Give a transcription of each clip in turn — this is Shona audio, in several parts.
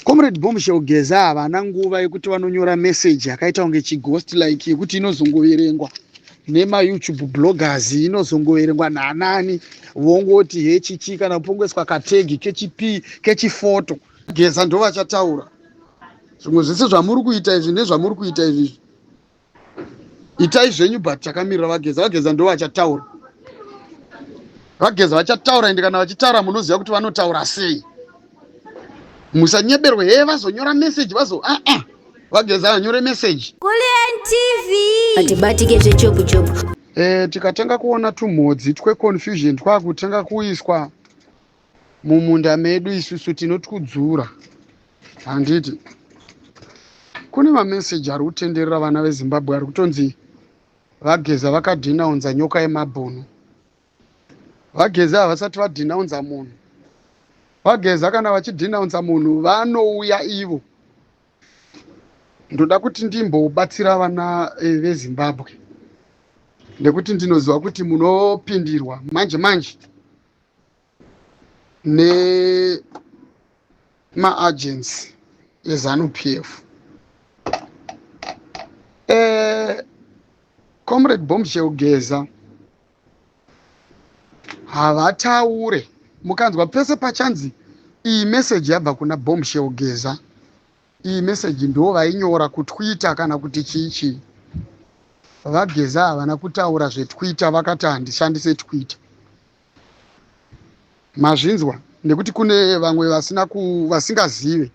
Comrade Bombshell Geza havana nguva yekuti vanonyora message yakaita kunge chighost like yekuti inozongoverengwa nemayoutube bloggers inozongoverengwa nanani vongoti hechichi kana kupongeswa kategi kechipi kechifoto geza ndovachataura zvimwe zvese zvamuri kuita izvi nezvamuri kuita izvi itai zvenyu but takamirira vageza vageza ndivo vachataura vageza vachataura ende kana vachitaura munoziva kuti vanotaura sei musanyeberwe hee vazonyora meseji vazo aa ah, ah, vageza vanyore meseji atibatike zvechopu chopu e, tikatanga kuona tumhodzi tweconfusion twakutanga kuiswa mumunda medu isusu tinotikudzura handiti kune mameseji ari kutenderera vana vezimbabwe ari kutonzi vageza vakadhinaunza nyoka yemabhunu vageza havasati vadhinaunza munhu vageza kana vachidhinaunza munhu vanouya ivo ndoda kuti ndimbobatsira vana eh, vezimbabwe nekuti ndinoziva kuti munopindirwa manje manje nemaagents ezanu p f eh, comrade bomb cheugeza havataure mukanzwa pese pachanzi iyi meseji yabva kuna bomb cheugeza iyi meseji ndo vainyora kutwitter kana kuti chii chii vageza havana kutaura zvetwitter vakati handishandise twitter mazvinzwa nekuti kune vamwe vasina vasingazive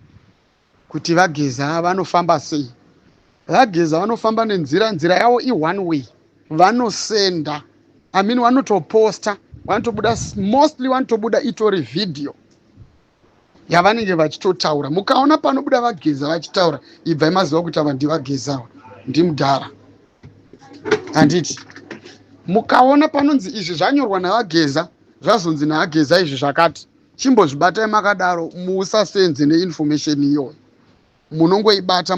kuti vageza vanofamba sei vageza vanofamba nenzira nzira yavo i-one way vanosenda i mean vanotoposta vanotobuda mostly vanotobuda itori vhidhiyo yavanenge vachitotaura mukaona panobuda vageza vachitaura ibvai maziva kuti ava ndivagezawa ndimudhara handiti mukaona panonzi izvi zvanyorwa navageza zvazonzi naageza izvi zvakati chimbozvibatai makadaro musasenze neinformation iyoyo munongoibata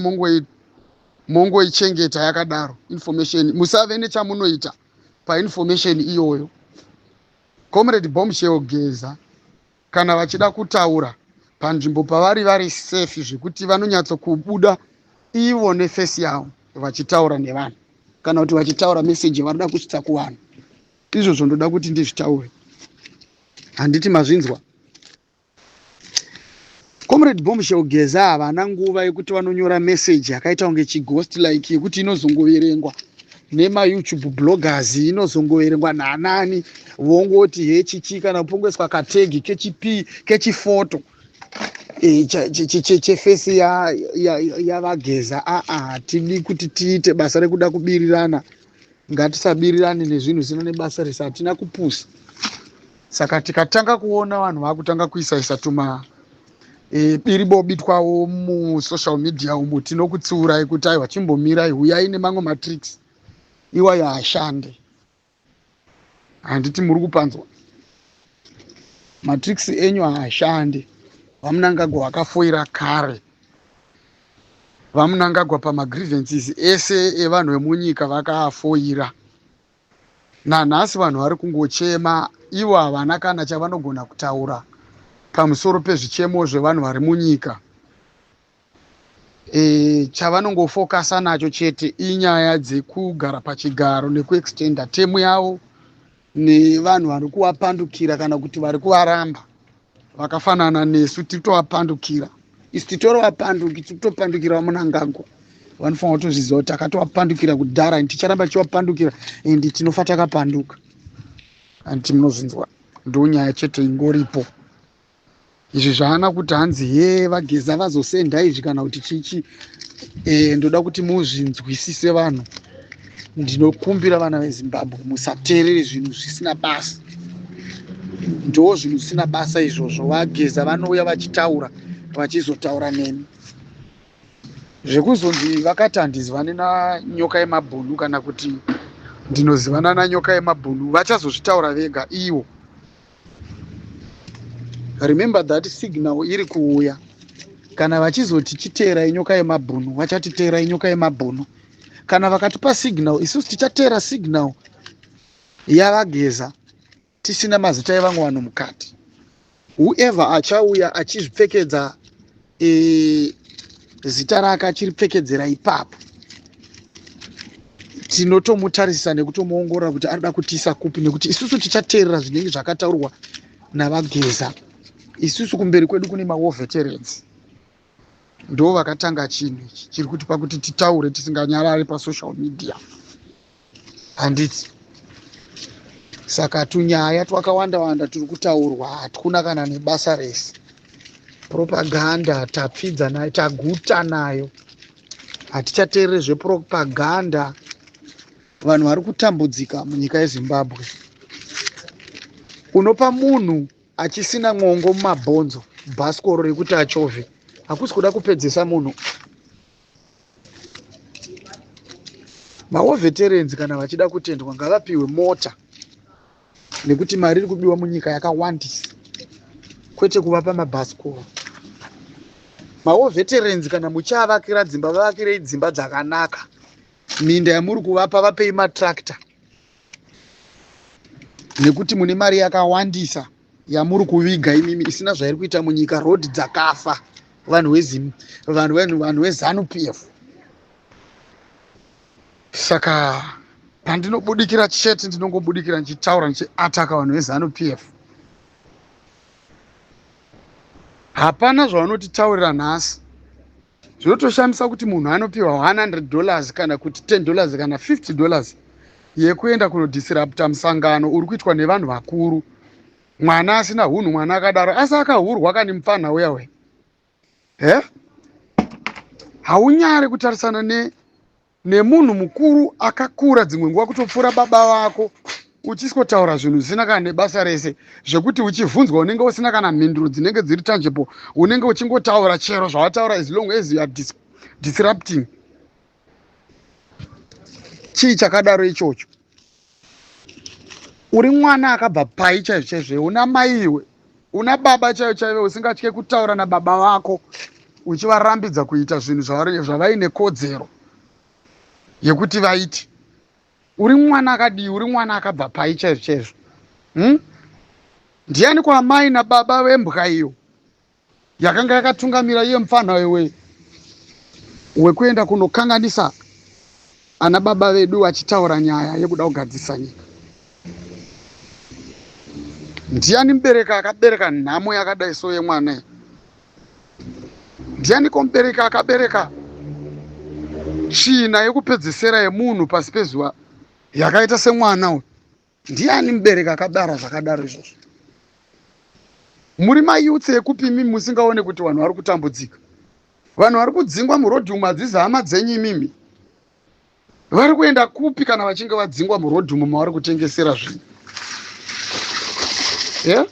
mongoichengeta yakadaro information musave nechamunoita painformation iyoyo comrade bombshell geza kana vachida kutaura panzvimbo pavari vari safe zvekuti vanonyatso kubuda ivo nefesi yavo vachitaura nevanhu kana kuti vachitaura meseji yavanoda kusvitsa kuvanhu izvozvo ndoda kuti ndizvitaure handiti mazvinzwa comrade bombshell geza havana nguva yekuti vanonyora meseji yakaita kunge chigost like yekuti inozongoverengwa nemayoutube bloggers inozongoverengwa naanani vongoti hechichi kana kupongoiswa kategi kechipi kechifoto e, chefesi yavageza aa ah, ah, tidi kuti tiite basa rekuda kubirirana ngatisabirirane nezvinhu zina nebasa rese hatina kupusa saka tikatanga kuona vanhu vakutanga kuisaisa tuma e, biri bobitwawo musocial media umo tinokutsiurai kuti aiwa chimbomirai huyai nemamwe matricks iwayo haashande handiti muri kupanzwa matricks enyu haashande vamunangagwa wakafoira kare vamunangagwa pamagrievances ese evanhu vemunyika vakaafoira Nanhasi vanhu vari kungochema ivo havana kana chavanogona kutaura pamusoro pezvichemo zvevanhu vari munyika. E, chavanongofokasa nacho chete inyaya dzekugara pachigaro nekuextenda temu yavo nevanhu vari kuvapandukira kana kuti vari kuvaramba. vakafanana nesu tiri kutovapandukira isu titorovapandukira tiri kutopandukira vamunangagwa vanofanira kutozviziva kuti takatovapandukira kudhara and ticharamba tichivapandukira and tinofa takapanduka and timunozvinzwa ndo nyaya chete ingoripo izvi zvaana kuti hanzi he vageza vazosenda izvi kana kuti chichi e, ndoda kuti muzvinzwisise vanhu ndinokumbira vana vezimbabwe musateerere zvinhu zvisina basa ndoo zvinhu zvisina basa izvozvo vageza vanouya vachitaura vachizotaura nemi zvekuzonzi vakati handizivane vane nanyoka yemabhunu kana kuti ndinozivana nanyoka yemabhunu vachazozvitaura vega ivo remember that signal iri kuuya kana vachizoti chiteerai nyoka yemabhunu vachatiteerai nyoka yemabhunu kana vakatipa signal isusu tichateera signal yavageza tisina mazita evamwe vanhu mukati whoever achauya achizvipfekedza e, zita rake achiripfekedzera ipapo tinotomutarisisa nekutomuongorora kuti anoda kutiisa kupi nekuti isusu tichateerera zvinenge zvakataurwa navageza isusu kumberi kwedu kune mawoveterans ndo vakatanga chinhu ichi chiri kuti pakuti titaure tisinganyarari pasocial media handiti saka tunyaya twakawanda wanda turi kutaurwa hatkuna kana nebasa rese propaganda tapfidza nayo taguta nayo hatichateerere zvepropaganda vanhu vari kutambudzika munyika yezimbabwe unopa munhu achisina mwongo mumabhonzo bhasikoro rekuti achovhe hakusi kuda kupedzesa munhu maoveterenzi kana vachida kutendwa ngavapiwe mota nekuti mari iri kubiwa munyika yakawandisa kwete kuvapa mabhasikoro maoveterenzi kana muchiavakira dzimba vavakirei dzimba dzakanaka minda yamuri kuvapa vapei matractor nekuti mune mari yakawandisa yamuri kuviga imimi isina zvairi kuita munyika road dzakafa vanhu wezim vanhu vanhu vanhu wezanu p f saka pandinobudikira chete ndinongobudikira ndichitaura ndichiataka vanhu vezanu p f hapana zvavanotitaurira nhasi zvinotoshamisa kuti munhu anopiwa 100 dollars kana kuti 10 dollars kana 50 dollars yekuenda kunodisirapta musangano uri kuitwa nevanhu vakuru mwana asina hunhu mwana akadaro asi akahurwa kani mupfanha uya we he haunyare kutarisana ne nemunhu mukuru akakura dzimwe nguva kutopfuura baba vako uchisikotaura zvinhu zvisina kana nebasa rese zvekuti uchivhunzwa unenge usina kana mhinduro dzinenge dziri tangible unenge uchingotaura chero zvawataura as long as youare dis disrupting chii chakadaro ichocho uri mwana akabva pai chaizvo chaizvo una mai iwe una baba chaivo chaivo usingatye kutaura nababa vako uchivarambidza kuita zvinhu zvavaine kodzero yekuti vaiti uri mwana akadii uri mwana akabva pai chaizvo chaizvo hmm? ndiani kwaamai nababa vembwa iyo yakanga yakatungamira iye mupfanha wewe wekuenda kunokanganisa ana baba vedu vachitaura nyaya yekuda kugadzirisa nyika ndiani mubereki akabereka nhamo yakadai so yemwana ndiani komubereki akabereka tsvina yekupedzesera yemunhu pasi pezuva yakaita semwana uyu Ndiani mubereki akabara zvakadaro izvozvo? Muri mayouths ekupi imimi musingaone kuti vanhu vari kutambudzika? Vanhu vari kudzingwa muroad umu hadzizi hama dzenyu imimi? Vari kuenda kupi kana vachinge vadzingwa muroad umu mavari kutengesera zvinhu? Yeah?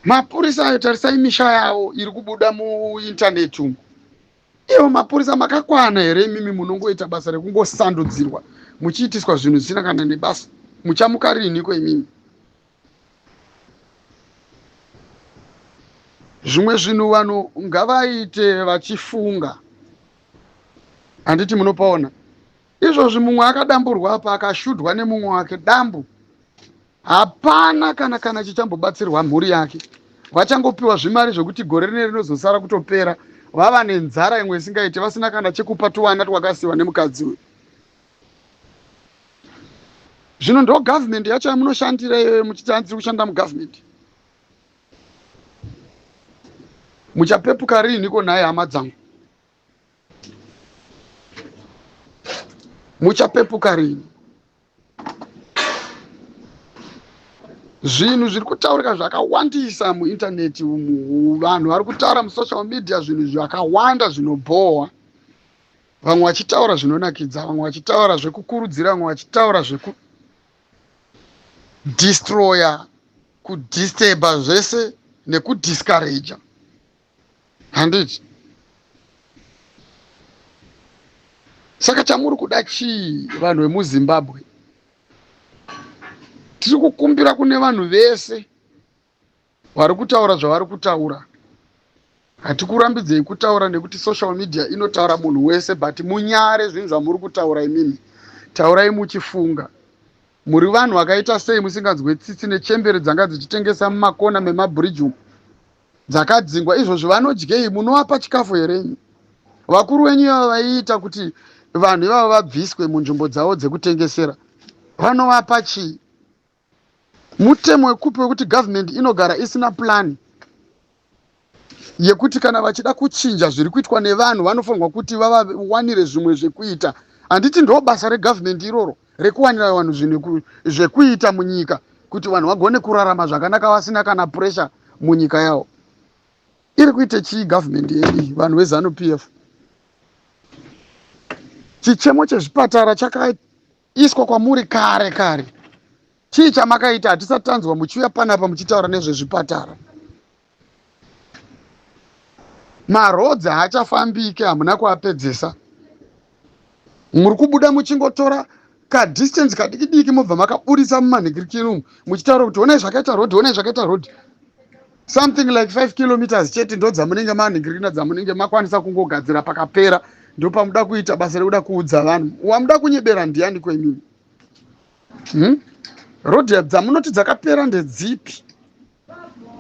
Mapurisa ayo tarisai misha yavo iri kubuda muintaneti umu. Ivo mapurisa makakwana here imimi munongoita basa rekungosandudzirwa muchiitiswa zvinhu zvisina kana nebasa muchamuka riiniko imimi zvimwe zvinhu vanhu ngavaite vachifunga handiti munopaona izvozvi mumwe akadamburwa apa akashudhwa nemumwe wake dambu Hapana kana kana chichambobatsirwa mhuri yake. Vachangopiwa zvimari zvekuti gore rine rinozosara kutopera vava nenzara imwe isingaite vasina kana chekupa tuvana twakasiwa nemukadzi uyu. Zvino ndo government yacho yamunoshandira iyoyo muchiti hanzi kushanda mugovernment. Muchapepuka riiniko nhai hama dzangu? Muchapepuka riini? zvinhu zviri kutaurika zvakawandisa muintaneti umu vanhu vari kutaura musocial media zvinhu zvakawanda zvinobhohwa vamwe vachitaura zvinonakidza vamwe vachitaura zvekukurudzira vamwe vachitaura zvekudistroya kudisturba zvese nekudiscouraja handiti saka chamuri kuda chii vanhu vemuzimbabwe tiri kukumbira kune vanhu vese vari kutaura zvavari kutaura hatikurambidzei kutaura nekuti social media inotaura munhu wese but munyare zvinhu zvamuri kutaura imimi taurai muchifunga muri vanhu vakaita sei musinganzwe tsitsi nechembere dzanga dzichitengesa mumakona memabridge umu dzakadzingwa izvozvi vanodyei munovapa chikafu here nyi vakuru wenyu ivavo vaiita kuti vanhu ivavo vabviswe munzvimbo dzavo dzekutengesera vanovapa chii mutemo wekupi wekuti government inogara isina plani yekuti kana vachida kuchinja zviri kuitwa nevanhu vanofanirwa kuti vavawanire zvimwe zvekuita handiti ndo basa regovernment iroro rekuwanira vanhu zvinhu zvekuita munyika kuti vanhu vagone kurarama zvakanaka vasina kana pressure munyika yavo iri kuita chii government yedu iyi vanhu vezanu p f chichemo chezvipatara chakaiswa kwamuri kare kare chii chamakaita hatisati tanzwa muchiuya panapa muchitaura nezvezvipatara maroads haachafambike hamuna kuapedzesa muri kubuda muchingotora kadistance kadiki diki mobva makaburitsa mumanhikirikiri umu muchitaura kuti onai zvakaita road onai zvakaita road something like five kilometers chete ndo dzamunenge manhikirikina dzamunenge makwanisa kungogadzira pakapera ndopamuda kuita basa rekuda kuudza vanhu wamuda kunyebera ndiyani kwenini Hmm? Road dzamunoti dzakapera ndedzipi?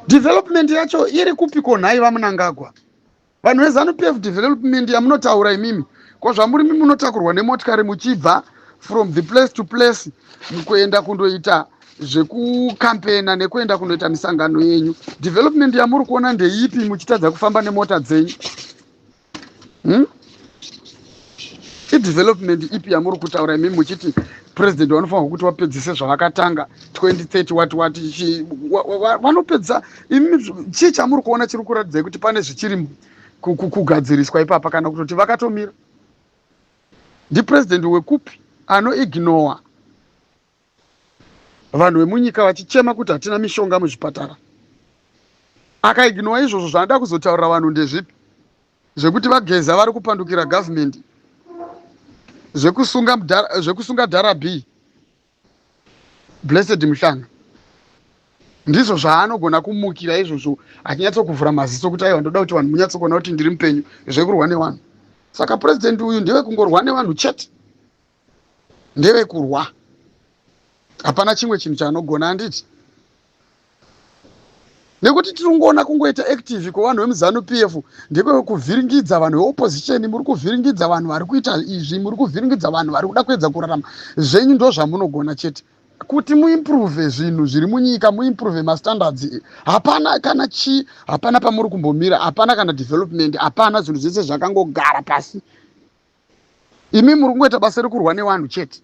Development yacho iri kupi ko nhai vamunangagwa? Vanhu vezanu PF development yamunotaura imimi ko zvamuri mimi munotakurwa nemotikari muchibva from the place to place mukuenda kundoita zvekukampena nekuenda kunoita misangano yenyu development yamuri kuona ndeipi muchitadza kufamba nemota dzenyu hmm? idevelopment ipi yamuri kutaura imimi muchiti president vanofanirwa kuti vapedzise zvavakatanga 2030 wati wati vanopedza imimi chii chamuri kuona chiri kuratidzai kuti pane zvichiri kugadziriswa ipapa kana kutoti vakatomira ndipresident wekupi anoignowa Vanhu vemunyika vachichema kuti hatina mishonga muzvipatara. Akaignowa izvozvo zvaanoda kuzotaurira vanhu ndezvipi? Zvekuti vageza vari kupandukira government. Zvekusunga mdara, zvekusunga dhara B. Blessed Muhlanga. Ndizvo zvaanogona kumukira izvozvo achinyatso kuvhura maziso kuti aiwa ndoda kuti vanhu munyatso kuona kuti ndiri mupenyu zvekurwa nevanhu. Saka president uyu ndewe kungorwa nevanhu chete. nderekurwa hapana chimwe chinhu chaanogona handiti nekuti tiri kungoona kungoita active kwevanhu vemuzanu p f ndekwekuvhiringidza vanhu veopposition muri kuvhiringidza vanhu vari kuita izvi muri kuvhiringidza vanhu vari kuda kuedza kurarama zvenyu ndo zvamunogona chete kuti muimprove zvinhu zviri munyika muimprove mastandards hapana kana chii hapana pamuri kumbomira hapana kana development hapana zvinhu zvese zvakangogara pasi imi muri kungoita basa rekurwa nevanhu chete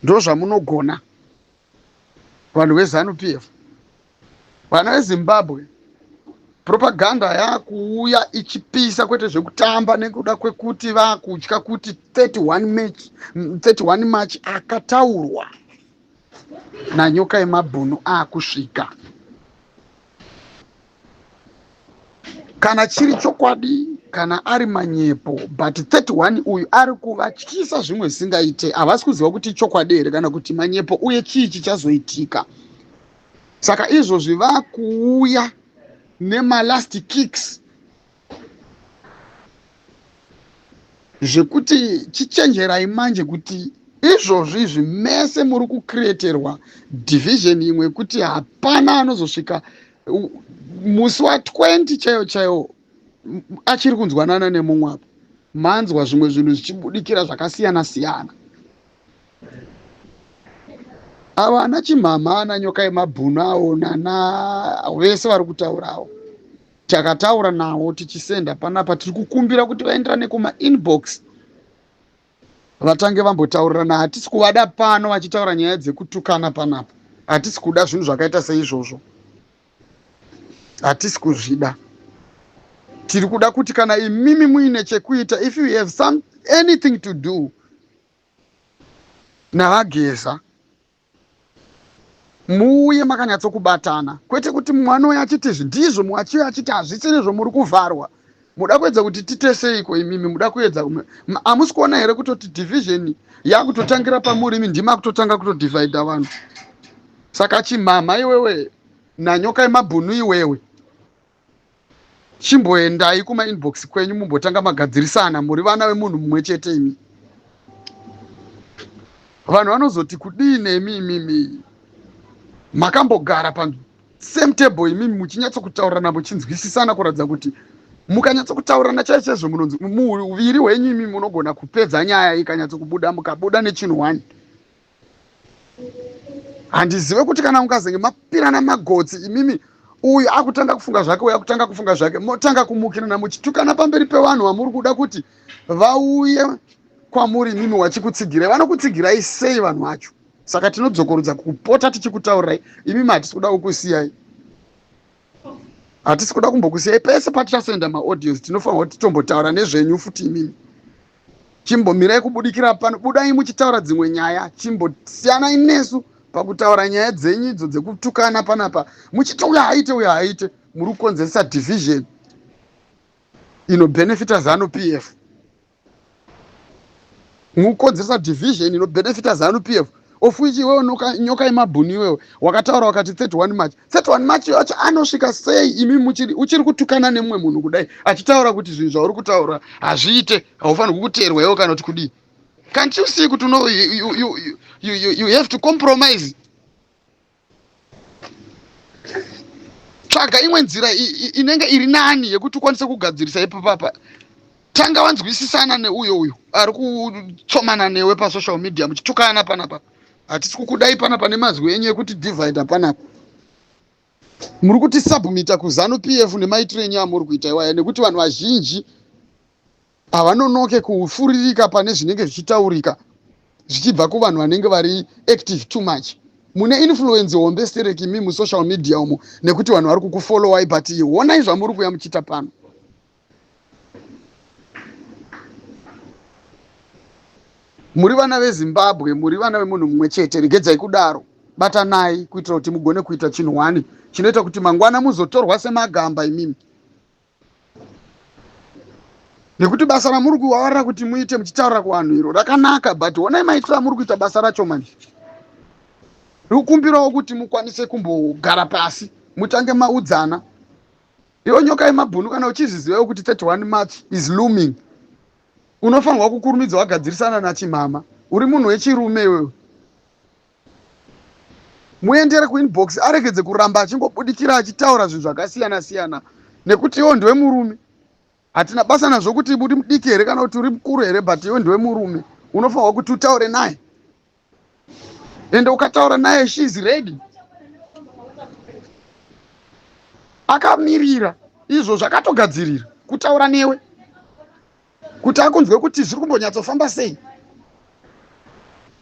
ndozvamunogona vanhu vezanu p f vana vezimbabwe propaganda yakuuya ichipisa kwete zvekutamba nekuda kwekuti vakutya kuti 31 march 31 march akataurwa nanyoka yemabhunu akusvika kana chiri chokwadi kana ari manyepo but 31 uyu ari kuvatyisa zvimwe zvisingaite havasi kuziva kuti ichokwadi here kana kuti manyepo uye chii chichazoitika saka izvozvi vakuuya nemalast kicks zvekuti chichenjerai manje kuti izvozvo izvi mese muri kucreaterwa division imwe yekuti hapana anozosvika musi wa 20 chaiyo chaiyo achiri kunzwanana nemumwe apo manzwa zvimwe zvinhu zvichibudikira zvakasiyana siyana avo ana chimhamha ana nyoka yemabhunu awo nana vese vari kutaurawo takataura navo tichisenda panapa tiri kukumbira kuti vaenderane kumainbox vatange vambotaurirana hatisi kuvada pano vachitaura nyaya dzekutukana panapa hatisi kuda zvinhu zvakaita seizvozvo hatisi kuzvida tiri kuda kuti kana imimi muine chekuita if you have some anything to do navageza Muuye makanyatsokubatana kwete kuti mumwe anouya achiti izvi ndizvo mumwe achiuya achiti hazvisiri zvomuri kuvharwa muda kuedza kuti titeseiko imimi muda kuedza hamusi kuona here kutoti division yakutotangira pamuri imi ndima kutotanga kutodivhaidha vanhu saka chimhamha iwewe nanyoka yemabhunu iwewe chimboendai kuma inbox kwenyu mumbotanga magadzirisana muri vana vemunhu mumwe chete imi vanhu vanozoti kudii nemi imimi makambogara pa same table imimi muchinyatsokutaurirana muchinzwisisana kuratidza kuti mukanyatsokutaurirana chai chaizvo munonzi muuviri hwenyu imimi munogona kupedza nyaya ikanyatsokubuda mukabuda nechinhu one handizive kuti kana mukazenge mapirana magotsi imimi uyu akutanga kufunga zvake uyu akutanga kufunga zvake motanga kumukirana muchitukana pamberi pevanhu vamuri kuda kuti vauye kwamuri imimi wachikutsigirai vanokutsigirai sei vanhu vacho saka tinodzokorudza kupota tichikutaurirai imimi hatisi kuda kukusiyai hatisi kuda kumbokusiyai pese patichasenda maaudience tinofanirwa kuti tombotaura nezvenyu futi imimi chimbomirai kubudikira pano budai muchitaura dzimwe nyaya chimbosiyanai nesu pakutaura nyaya dzenyu idzo dzekutukana panapa muchiti uyo haaite uyo haaite muri kukonzeresa division inobenefita zanu p f mukukonzeresa division inobenefita zanu p f of which iwewe nyoka yemabhuni iwewe wakataura wakati 31 march 31 march yacho anosvika sei imi muchiri uchiri kutukana nemumwe munhu kudai achitaura kuti zvinhu zvauri kutaura hazviite haufanirwi kuteerwa iwe kana kuti kudii can't you see kuti no you, you, you, you, you have to compromise tsvaga imwe nzira inenge iri nani yekuti ukwanise kugadzirisa ipapapa tanga wanzwisisana neuyo uyo ari kutsomana newe pasocial media muchitukana panapa hatisi kukudai panapa nemazwi enyu ekuti divide panapa muri kuti submita kuzanu p f nemaitiro enyu amuri kuita iwaya nekuti vanhu vazhinji havanonoke kufuririka pane zvinenge zvichitaurika zvichibva kuvanhu vanenge vari active too much mune influence hombe stereki mi musocial media umo nekuti vanhu vari kukufollowai but honai zvamuri kuya muchiita pano muri vana vezimbabwe muri vana vemunhu mumwe chete regedzai kudaro batanai kuitira kuti mugone kuita chinhu hwani chinoita kuti mangwana muzotorwa semagamba imimi nekuti basa ramuri kuwawarira kuti muite muchitaurira kuvanhu iro rakanaka but honai maitiro amuri kuita basa racho manje rikukumbirawo kuti mukwanise kumbogara pasi mutange maudzana iyo nyoka yemabhunu kana uchizvizivawo kuti 31 march is looming unofanirwa kukurumidza wagadzirisana nachimhama uri munhu wechirume iwewe muendere kuinbox aregedze kuramba achingobudikira achitaura zvinhu zvakasiyana siyana nekuti iwo ndiwe murume hatina basa nazvo kuti uri mudiki here kana kuti uri mukuru here but iwe ndiwe murume unofanirwa kuti utaure naye ende ukataura naye she is ready akamirira izvo zvakatogadzirira kutaura newe kuti akunzwe kuti zviri kumbonyatsofamba sei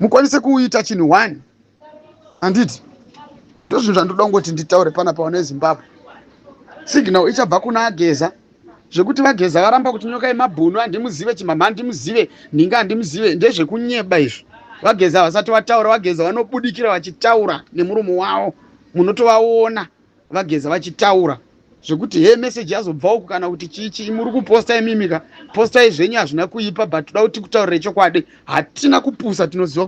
mukwanise kuita chinhu one handiti ndozvinhu zvandoda kungoti nditaure pana paona ezimbabwe signal ichabva kuna ageza zvekuti vageza varamba kuti nyoka yemabhunu handimuzive chimhamha handimuzive nhinga handimuzive ndezvekunyeba izvi vageza havasati vataura vageza vanobudikira vachitaura nemurumo wavo munotovaona VaGeza vachitaura zvekuti hee message yazobva uku kana kuti chii chii muri kuposta imimika postai zvenyu hazvina kuipa but toda kuti kutaurire chokwadi hatina kupusa tinoziva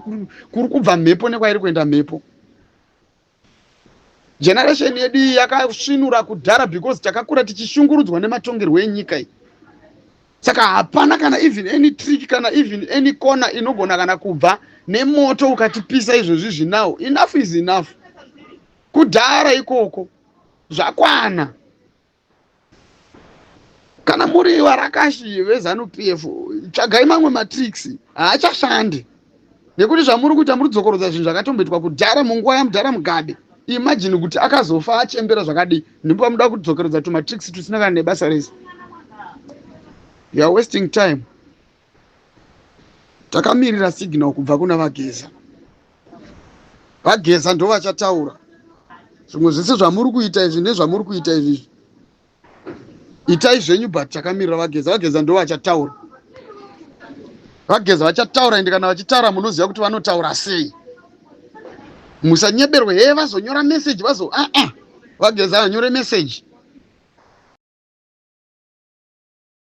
kuri kubva mhepo nekwairi kuenda mhepo generation yedu iyi yakasvinura kudhara because takakura tichishungurudzwa nematongerwo enyika iyi saka hapana kana even any trick kana even any corner inogona kana kubva nemoto ukatipisa izvozvi zvinawo enough is enough kudhara ikoko zvakwana kana muri varakashi vezanu p f tsvagai mamwe matricks haachashandi nekuti zvamuri kuita muri kudzokorodza zvinhu zvakatomboitwa kudhara munguva yamudhara mugabe imajini kuti akazofa achembera zvakadii ndipo pamuda kudzokeredza tumatricks tusina kana nebasa rese youare wasting time takamirira signal kubva kuna vageza vageza ndo vachataura zvimwe zvese zvamuri kuita izvi nezvamuri kuita izvi itai zvenyu but takamirira vageza vageza ndo vachataura vageza vachataura ende kana vachitaura munoziva kuti vanotaura sei musanyeberwe hee vazonyora message vazo aa ah, ah, vageza vanyore message